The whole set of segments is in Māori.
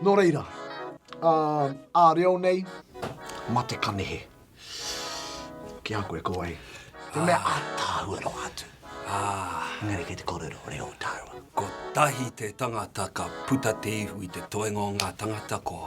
Nō reira, ā reo nei, mate ka nehe. Ki a koe ko wai? Te mea ātaahua noa atu. Ā. Engari kei te kōrero reo tāua. Kotahi te tangata ka puta te ihu i te toenga o ngā tangata ko.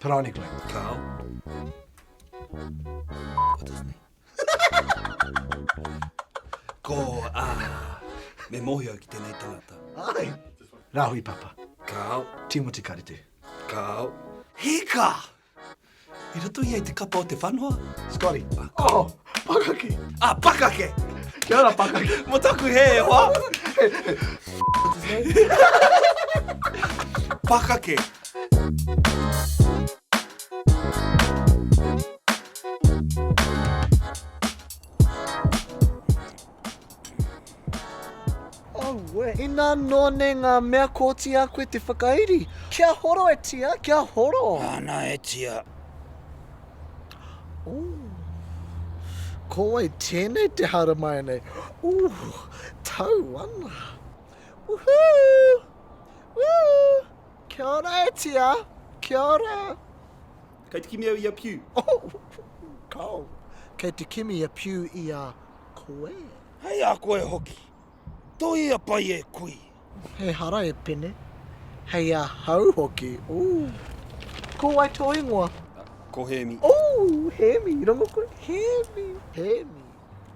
Parani Glen. Kao. Ko a. Me mohio ki tenei tangata. Ai. Rahui Papa. Kao. Timoti Karete. Kao. Hika! I roto ia i te kapa o te whanoa. Scotty. Oh. Pakake. Ah, pakake! Kia ora, pakake. Mo taku he e hoa. pakake. Aue. Ina no ne nga mea koti a koe te whakairi. Kia horo e tia, kia horo. Ana e tia. Ooh. Ko wai tenei te haramai nei. Ooh. Tau ana. Woohoo. Woo. Kia ora e tia. Kia ora. Kei te kimi au i a Piu. Oh! Kao! Kei te kimi a Piu i a koe. Hei a koe hoki. Toia pai e kui. Ehara e Pene. Hei a hau hoki. Ooh! Ko wai to ingoa? Ko Hemi. Ooh! Hemi! Rongo koe? Hemi! Hemi!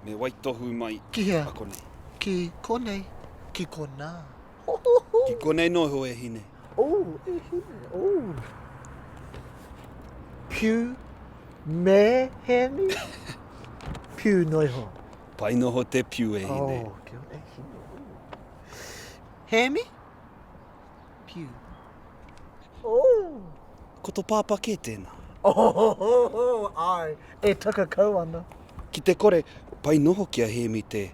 Me waitohu mai. Ki hea? Ki konei. Ki konei. Ki kona. Ki konei noa iho e hine. Ooh e hine ooh. Piu me heni piu noa iho. Pai noho te piu e hine. Oh kia ora e hine ooh. Hemi piu ooh. Ko to papa ke tena. Ohohohoho ai e takakau ana. Ki te kore, pai noho ki a Hemi te.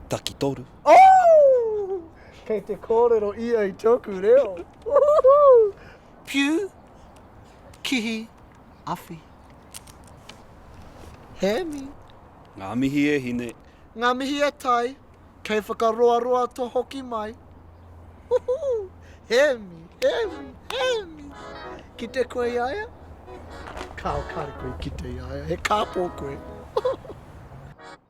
Takitoru. Ooh! Kei te kōrero ia i tōku reo. Ooh! Piu, kihi, awhi. Hēmi. Ngā mihi e hine. Ngā mihi e tai. Kei whakaroaroa to hoki mai. Ooh! Hēmi, Hēmi, Hēmi. Kite koe i a ia? Kao, kare koe i kite i a ia. He kāpō koe. Ooh!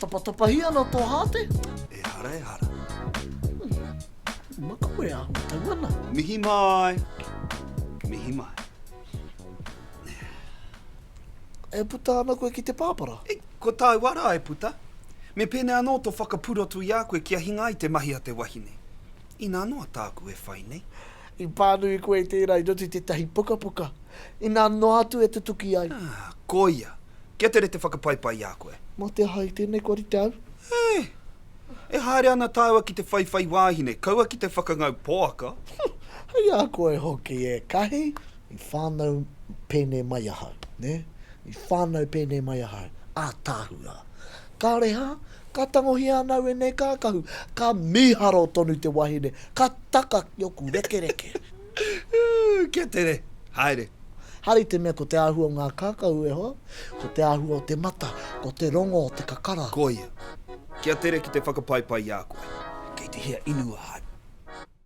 Tapatapahi ana tō hāte? Ehara, ehara. Makawe a ma tau ana. Mihi mai. Mihi mai. E puta ana koe ki te pāpara? E, ko tāu ara e puta. Me pēnei anō tō whakapurotu i a koe kia hinga ai te mahi a te wahine. Inā noa tāku e whai nei. I pānui koe i tērā i roto i tētahi pukapuka, inā noa atu e tutuki ai. Ā, koia. Kia tere te whakapaipai i a koe. Mō te aha i tēnei kua rite au? Ē! E haere ana tāua ki te whaiwhai wāhine, kaua ki te whakangau poaka. Hei a koe hoki ēkahi i whānau pēnei mai ahau, nē? I whānau pēnei mai ahau, ātaahua. Kāore hā, ka tangohia ana wēnei kākahu, ka mīharo tonu te wahine, ka taka ki oku rekereke. Ū, kia tere, haere. Haere i te mea ko te āhua o ngā kākahu e hoa, ko te āhua o te mata, ko te rongo o te kakara. Koia. Kia tere ki te whakapaipai i a koe. Kei te hea inu ahau?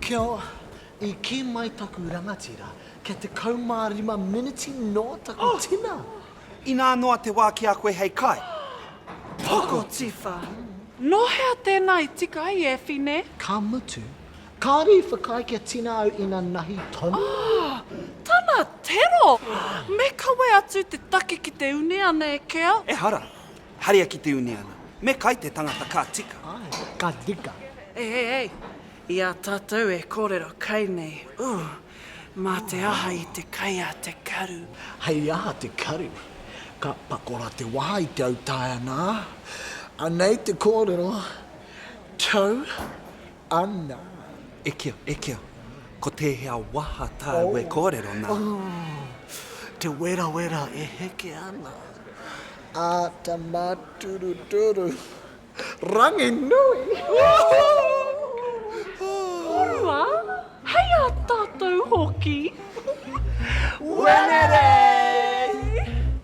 Kia ora, i kī mai taku rangatira, kia 15 miniti nō taku tina! Inā noa te wā ki a koe hei kai. Pokotiwha! Nō hea tēnā i tika ai e Whine? Ka mutu, kāre i whakaae kia tina au ina nahi tonu au. Tana tero! Me kawe atu te take ki te une ana e Kea. Ehara! Haria ki te uniana. Me kai te tangata ka tika. Ae, ka tika. Hei, hei, hei. I a tatou e korero kai nei, ooh, ma te aha i te kai a te karu. Hei aha te karu? Ka pakora te waha i te autaia na. Anei te korero, Tau Ana. E kio, e kio. Ko tēhea waha tāu e kōrero nā? Ooh. Te werawera e heke ana. Āta māturuturu. Ranginui! Koroua! Hei ā tātou hoki! Wenerei!